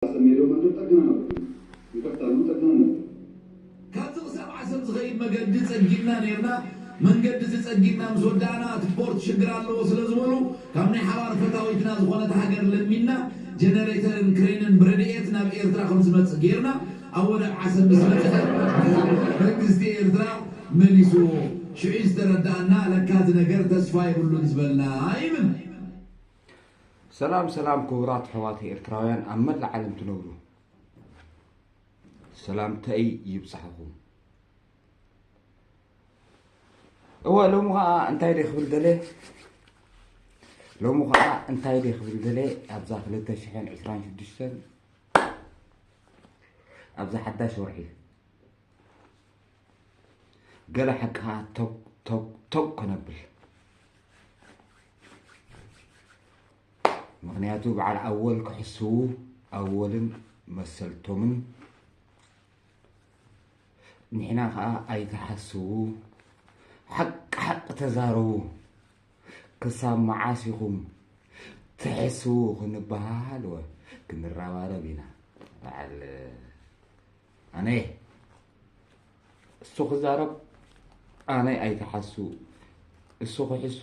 ኣጸሚዶ መንገድ ጠግና ነበር ይቅርታ ን ጠግና ነበር። ካብዚ ክሳብ ዓሰብ ዝኸይድ መገዲ ጸጊንና ኔርና፣ መንገዲ እዚ ጸጊንና ምስ ወዳእና እቲ ፖርት ሽግር ኣለዎ ስለ ዝበሉ ካብ ናይ ሓባር ፈታዊትና ዝኾነት ሃገር ለሚንና ጀነሬተርን ክሬንን ብረድኤት ናብ ኤርትራ ከም ዝመጽእ ጌርና ኣብ ወደብ ዓሰብ ምስ በጽሐ መንግስቲ ኤርትራ መሊስዎ። ሽዑ'ዩ ዝተረድኣና ለካ እዚ ነገር ተስፋ የብሉን ዝበልና ይብል። ሰላም ሰላም ክቡራት ኣሕዋት ኤርትራውያን ኣብ መላእ ዓለም ትነብሩ ሰላምተይ ይብጻሕኹም እወ ሎሚ ከዓ እንታይ ደ ክብል ደለ ሎሚ ከዓ እንታይ ደ ክብል ደለ ኣብዛ 226 ኣብዛ ሓዳሽ ወርሒ ገለ ሓቂ ከዓ ቶግ ቶግ ቶግ ከነብል ምክንያቱ በዓል ኣወል ክሕስዉ ኣወልን መሰልቶምን ንሕና ከዓ ኣይትሓስዉ ሓቂ ሓቂ ተዛረቡ ክሳብ መዓስ ኢኹም ትሕስዉ ክንበሃል ወ ክንረባረብ ኢና በዓል ኣነ እየ እሱ ክዛረብ ኣነ ኣይትሓሱ እሱ ክሕሱ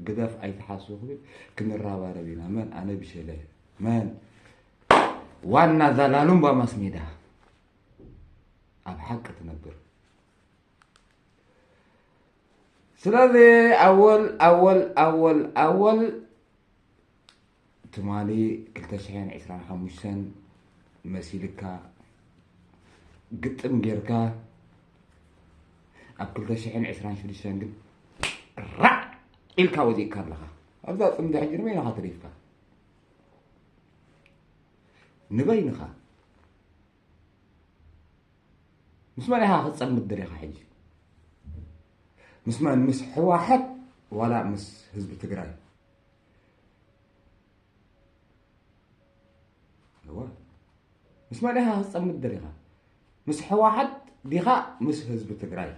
ግደፍ ኣይትሓሱ ክብል ክንራባረብ ኢና መን ኣነ ብሸለ መን ዋና ዛላሉምባ ማስሜዳ ኣብ ሓቂ ትነብር ስለዚ ኣወል ኣወል ኣወል ኣወል ትማሊ ክልተ ሽሕን ዕስራን ሓሙሽተን መሲልካ ግጥም ጌርካ ኣብ ክልተ ሽሕን ዕስራን ሽዱሽተን ግን ራዕ ኢልካ ወዚእካ ኣለኻ ኣብዛ ፅምዲ ሕጂ ንበይንኻ ተሪፍካ ንበይንኻ ምስ መን ኢኻ ክትፀምድ ደሊኻ ሕጂ ምስ መን ምስ ሕዋሕት ዋላ ምስ ህዝቢ ትግራይ ምስ መን ኢኻ ክትፀምድ ደሊኻ ምስ ሕወሓት ዲኻ ምስ ህዝቢ ትግራይ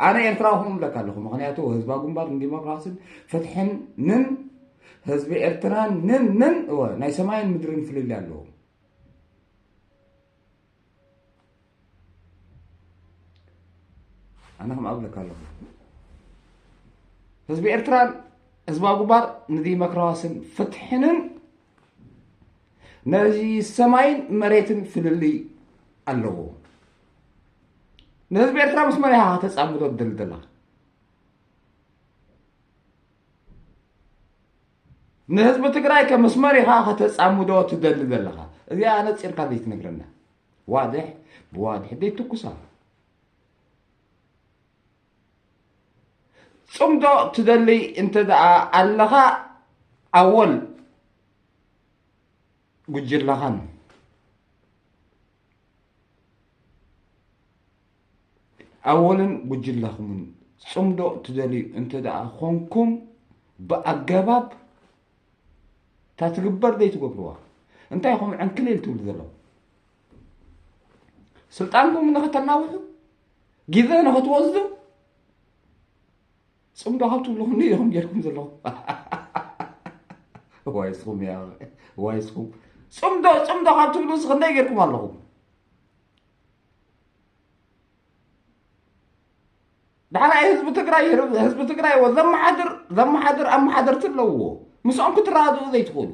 ኣነ ኤርትራዊ ክም ብለካ ኣለኹ ምክንያቱ ህዝባ ግንባር ንዲሞክራሲን ፍትሕን ንን ህዝቢ ኤርትራን ንን ንን እወ ናይ ሰማይን ምድርን ፍልልይ ኣለዎ ኣነ ከምኣ እብለካ ኣለኹ ህዝቢ ኤርትራን ህዝባዊ ግንባር ንዲሞክራስን ፍትሕንን ነዚ ሰማይን መሬትን ፍልልይ ኣለዎ ንህዝቢ ኤርትራ ምስ መን ኢኻ ከተጻምዶ ትደሊ ዘላ ንህዝቢ ትግራይ ከምስ መሪኻ ከተጻምዶ ትደሊ ዘለኻ እዚኣ ኣነጺርካ ዘይትነግረና ዋድሕ ብዋድሕ ዘይትኩሳ ፅምዶ ትደልይ እንተ ኣለኻ ኣወል ጉጅላኻን ኣወልን ጉጅለኹምን ፅምዶ ትደልዩ እንተደኣ ኾንኩም ብኣገባብ እታ ትግበር ዘይትገብርዋ እንታይ ኹም ዕንክሊል ትብሉ ዘለኹ ስልጣንኩም ንኸተናውሑ ግዘ ንኸትወስዱ ፅምዶ ካብ ትብልኹም ኢኹም ጌርኩም ዘለኹ ዋይ ስኹም ዋይ ስኹም ፅምዶ ፅምዶ ካብ ትብሉ ክንደይ ጌርኩም ኣለኹም ዳሕራይ ህዝቢ ትግራይ ህዝቢ ትግራይ ወ ዘመሓድር ዘመሓድር ኣመሓደርቲ ኣለውዎ ምስኦም ክትረዳድኡ ዘይትኽእሉ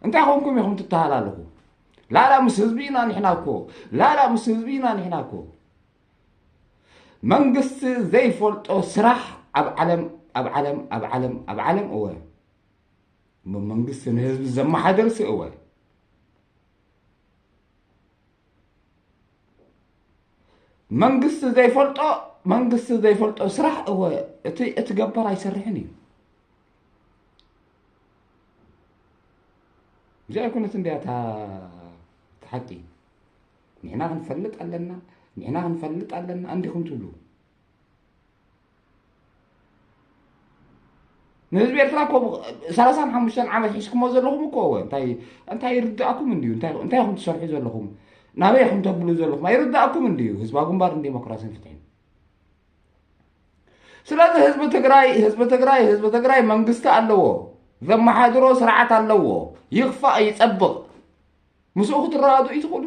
እንታይ ኮንኩም ኢኹም ትተሃላለኹ ላላ ምስ ህዝቢ ኢና ንሕና እኮ ላላ ምስ ህዝቢ ኢና ንሕና እኮ መንግስቲ ዘይፈልጦ ስራሕ ኣብ ዓለም ኣብ ዓለም ኣብ ዓለም ኣብ ዓለም እወ እሞ መንግስቲ ንህዝቢ ዘመሓደርሲ እወ መንግስቲ ዘይፈልጦ መንግስቲ ዘይፈልጦ ስራሕ እወ እቲ እቲ ገባር ኣይሰርሕን እዩ እዚኣ ኣይኮነት እንዲያ እታ እታ ሓቂ ንሕና ክንፈልጥ ኣለና ንሕና ክንፈልጥ ኣለና እንዲኹም ትብሉ ንህዝቢ ኤርትራ እኮ ሰላሳን ሓሙሽተን ዓመት ሒዝኩሞ ዘለኹም እኮ ወ እንታይ ይርዳእኩም እንድዩ እንታይ ኹም ትሰርሑ ዘለኹም ናበይ ኹም ተብሉ ዘለኹም ኣይርዳእኩም እንድዩ ህዝባ ግንባር ንዴሞክራሲን ፍትሒን ስለዚ ህዝቢ ትግራይ ህዝቢ ትግራይ ህዝቢ ትግራይ መንግስቲ ኣለዎ ዘመሓድሮ ስርዓት ኣለዎ ይኽፋእ ይፀብቕ ምስኡ ክትረዳድኡ ይትኽእሉ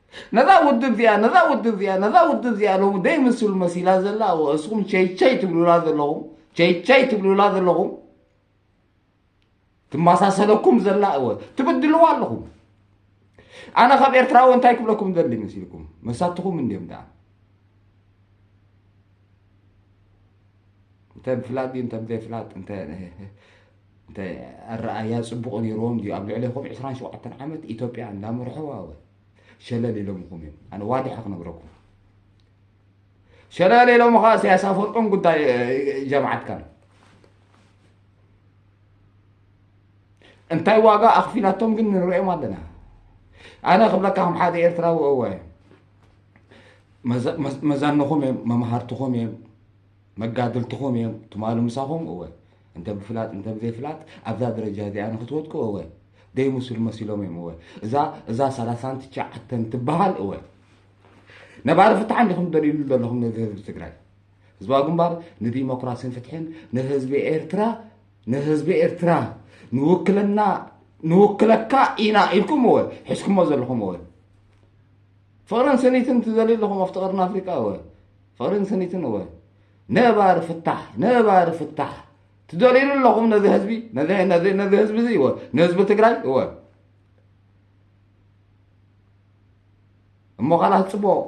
ነዛ ውድብ እዚኣ ነዛ ውድብ እዚኣ ነዛ ውድብ እዚኣ ሎሚ ደይምስሉ መሲላ ዘላ እወ እስኹም ቸይቸይ ትብሉላ ዘለኹም ቸይቸይ ትብሉላ ዘለኹም ትመሳሰለኩም ዘላ እወ ትብድልዋ ኣለኹም ኣነ ካብ ኤርትራዊ እንታይ ክብለኩም ዘድሊ መሲልኩም መሳትኹም እንዲዮም ደኣ እንተ ብፍላጥ ድዩ እንተ ብዘይፍላጥ እንተ እንተ ኣረኣያ ጽቡቕ ነይርዎም ድዩ ኣብ ልዕሌኹም ዕስራን ሸውዓተን ዓመት ኢትዮጵያ እንዳመርሕዋ ወ ሸለል ኢሎምኹም እዮም ኣነ ዋድሐ ክነግረኩም ሸለል ኢሎም ኸ ኢሳያስ ኣፈወርቅን ጉዳይ ጀማዓትካን እንታይ ዋጋ ኣኽፊላቶም ግን ንርእዮም ኣለና ኣነ ክብለካ ከም ሓደ ኤርትራዊ እወ መዛንኹም እዮም መምሃርትኹም እዮም መጋድልትኹም እዮም ትማሉ ምሳኹም እወ እንተ ብፍላጥ እንተ ብዘይፍላጥ ኣብዛ ደረጃ እዚኣ ንክትወድቁ እወ ደይምስሉ መሲሎም እዮም እወ እዛ እዛ ሰላሳን ትሽዓተን ትበሃል እወ ነባሪ ፍትሓ እንዲኹም ትደልዩሉ ዘለኹም ነዚ ህዝቢ ትግራይ ህዝባዊ ግንባር ንዲሞክራሲን ፍትሕን ንህዝቢ ኤርትራ ንህዝቢ ኤርትራ ንውክልና ንውክለካ ኢና ኢልኩም እወ ሕዝኩሞ ዘለኹም እወ ፍቕርን ስኒትን ትደልዩ ኣለኹም ኣብቲ ቀርኒ ኣፍሪቃ እወ ፍቕርን ስኒትን እወ ነባሪ ፍታሕ ነባሪ ፍታሕ ትደልዩሉ ኣለኹም ነዚ ህዝቢ ነዚ ህዝቢ እዚ እወ ንህዝቢ ትግራይ እወ እሞ ካላት ፅቡቕ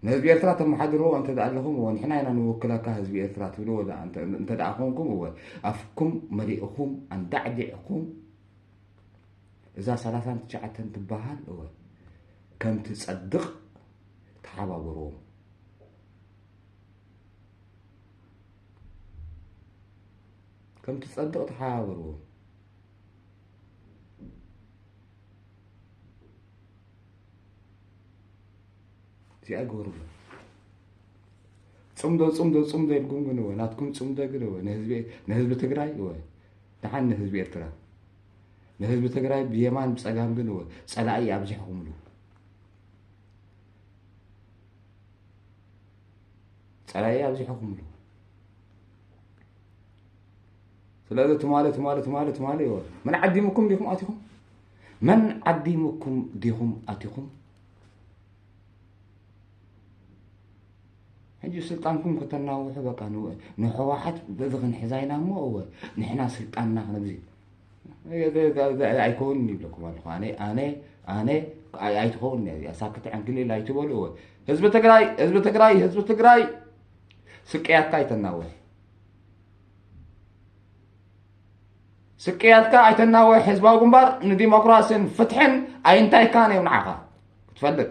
ንህዝቢ ኤርትራ ተመሓድርዎ እንተ ኣለኹም እወ ንሕና ኢና ንውክለካ ህዝቢ ኤርትራ ትብልዎ እንተ ኮንኩም እወ ኣፍኩም መሊእኹም ኣንዳዕዲዕኹም እዛ ሰላሳን ትሽዓተን ትበሃል እወ ከም ትጸድቕ ተሓባበርዎም። ከም ትጸድቕ ተሓባበርዎም። እዚኣ ግበርዎ። ፅምዶ ፅምዶ ፅምዶ ኢልኩም ግን እወ ናትኩም ፅምዶ ግን እወ ንህዝቢ ትግራይ እወ ድሓን ንህዝቢ ኤርትራ ንህዝቢ ትግራይ ብየማን ብፀጋም ግን ፀላኢ ኣብዚሕኹምሉ ፀላኢ ኣብዚሕኹምሉ ስለዚ ትማሊ ትማሊ ትማሊ ትማሊ ይወ መን ዓዲሙኩም ዲኹም ኣቲኹም መን ዓዲሙኩም ዲኹም ኣቲኹም ሕጂ ስልጣንኩም ከተናውሑ በቃ ንሕወሓት በዚ ክንሕዛ ኢና እሞ እወ ንሕና ስልጣንና ክንብዚ ኣይከውን ይብለኩም ኣለኹ ኣነ ኣነ ኣነ ኣይትኸውን እዚኣ ሳክት ዕንክሊል ኣይትበሉ እወ ህዝቢ ትግራይ ህዝቢ ትግራይ ህዝቢ ትግራይ ስቅያትካ ኣይተናውሕ ስቅያትካ ኣይተናወ ህዝባዊ ግንባር ንዲሞክራሲን ፍትሕን ኣይንታይካን እዮም ንዓኻ ክትፈልጥ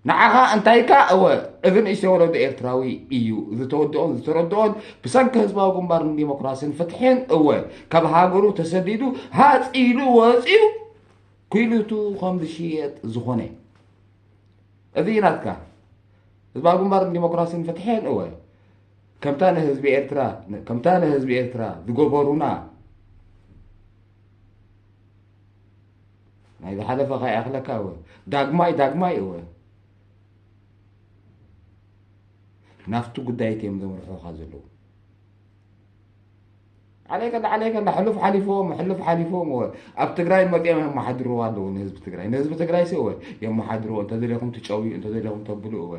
ንዓኻ እንታይካ እወ እዚ ንእሽተ ወለዶ ኤርትራዊ እዩ ዝተወድኦን ዝተረድኦን ብሰንኪ ህዝባዊ ግንባር ንዲሞክራሲን ፍትሕን እወ ካብ ሃገሩ ተሰዲዱ ሃፂሉ ወፂኡ ኩሉቱ ከም ዝሽየጥ ዝኾነ እዚ ናትካ ህዝባዊ ግንባር ንዲሞክራሲን ፍትሕን እወ ከምታ ንህዝቢ ኤርትራ ከምታ ንህዝቢ ኤርትራ ዝገበሩና ናይ ዝሓለፈ ከይኣኽለካ እወ ዳግማይ ዳግማይ እወ ናፍቲ ጉዳይት እዮም ዘምርሑኻ ዘለዉ ዓለይከላ ዓለይከላ ሕሉፍ ሓሊፍዎም ሕሉፍ ሓሊፍዎም እወ ኣብ ትግራይ መፂኦም የመሓድርዎ ኣለዉ ንህዝቢ ትግራይ ንህዝቢ ትግራይ ሲ እወ የመሓድርዎ እንተዘለኹም ትጨውዩ እንተዘለኹም ተብሉ እወ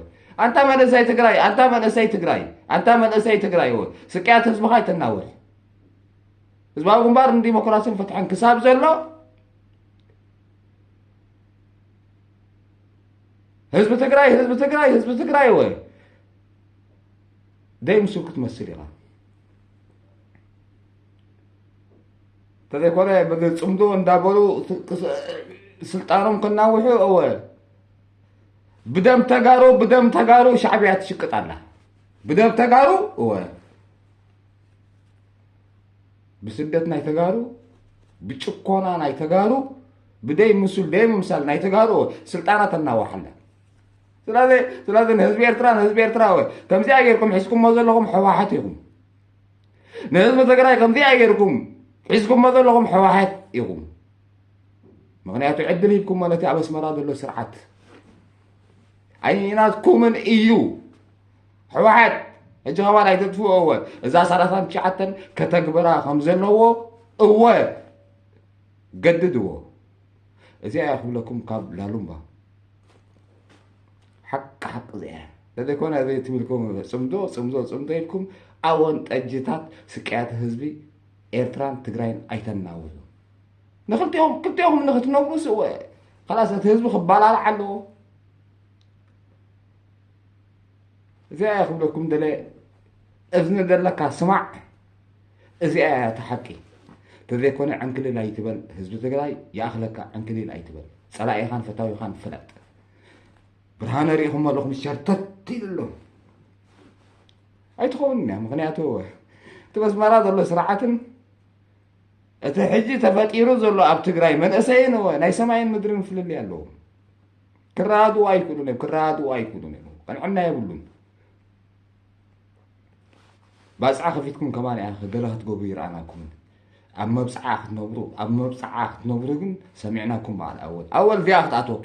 ኣንታ መንእሰይ ትግራይ ኣንታ መንእሰይ ትግራይ ኣንታ መንእሰይ ትግራይ እወ ስቅያት ህዝብኻ ይተናውሕ ህዝባዊ ግንባር ንዲሞክራሲን ፍትሕን ክሳብ ዘሎ ህዝቢ ትግራይ ህዝቢ ትግራይ ህዝቢ ትግራይ እወ ደይ ምስል ክትመስል ኢኻ ተዘይኮነ ብፅምዶ እንዳበሉ ስልጣኖም ክናውሑ እወ ብደም ተጋሩ ብደም ተጋሩ ሻዕቢያ ትሽቅጥ ኣላ ብደም ተጋሩ እወ ብስደት ናይ ተጋሩ ብጭኮና ናይ ተጋሩ ብደይ ምስል ደይ ምምሳል ናይ ተጋሩ ስልጣና ተናዋሓለን ስለዚ ስለዚ ንህዝቢ ኤርትራ ንህዝቢ ኤርትራዊ ከምዚኣ ጌርኩም ሒዝኩሞ ዘለኹም ሕወሓት ኢኹም ንህዝቢ ትግራይ ከምዚኣ ጌርኩም ሒዝኩሞ ዘለኹም ሕወሓት ኢኹም ምክንያቱ ዕድል ሂብኩሞ ነቲ ኣብ ኣስመራ ዘሎ ስርዓት ኣይናትኩምን እዩ ሕወሓት ሕጂ ከባ ናይ ተጥፍኦ እወ እዛ ሰላሳን ትሽዓተን ከተግብራ ከም ዘለዎ እወ ገድድዎ እዚኣ ክብለኩም ካብ ላሉምባ ሓቂ ሓቂ ዘያ ለዘይኮነ እዚ ትብልኩም ፅምዶ ፅምዶ ፅምዶ ኢልኩም ኣወን ጠጅታት ስቅያት ህዝቢ ኤርትራን ትግራይን ኣይተናውዙ ንክልቲኦም ክልቲኦም ንክትነብሩ ስወ ከላስ እቲ ህዝቢ ክባላልዓ ኣለዎ እዚኣ ክብለኩም ደለ እዝኒ ዘለካ ስማዕ እዚኣ እያ እታ ሓቂ ተዘይኮነ ዕንክሊል ኣይትበል ህዝቢ ትግራይ ይኣኽለካ ዕንክሊል ኣይትበል ፀላኢኻን ፈታዊኻን ፍለጥ ብርሃነ ሪኢኹም ኣለኹም ሸርተት ኢሉ ኣሎ ኣይትኸውን እያ ምክንያቱ እቲ መስመራ ዘሎ ስርዓትን እቲ ሕጂ ተፈጢሩ ዘሎ ኣብ ትግራይ መንእሰይን ናይ ሰማይን ምድርን ፍልልይ ኣለዎ ክረዳድኡ ኣይክእሉን እዮም ክረዳድኡ ኣይክእሉን እዮም ቀንዕና የብሉን ባጽዓ ከፊትኩም ከማን ኢኻ ገለ ክትገብሩ ይርኣናኩምን ኣብ መብጽዓ ክትነብሩ ኣብ መብጽዓ ክትነብሩ ግን ሰሚዕናኩም በዓል ኣወል ኣወል እዚኣ ክትኣትወኪ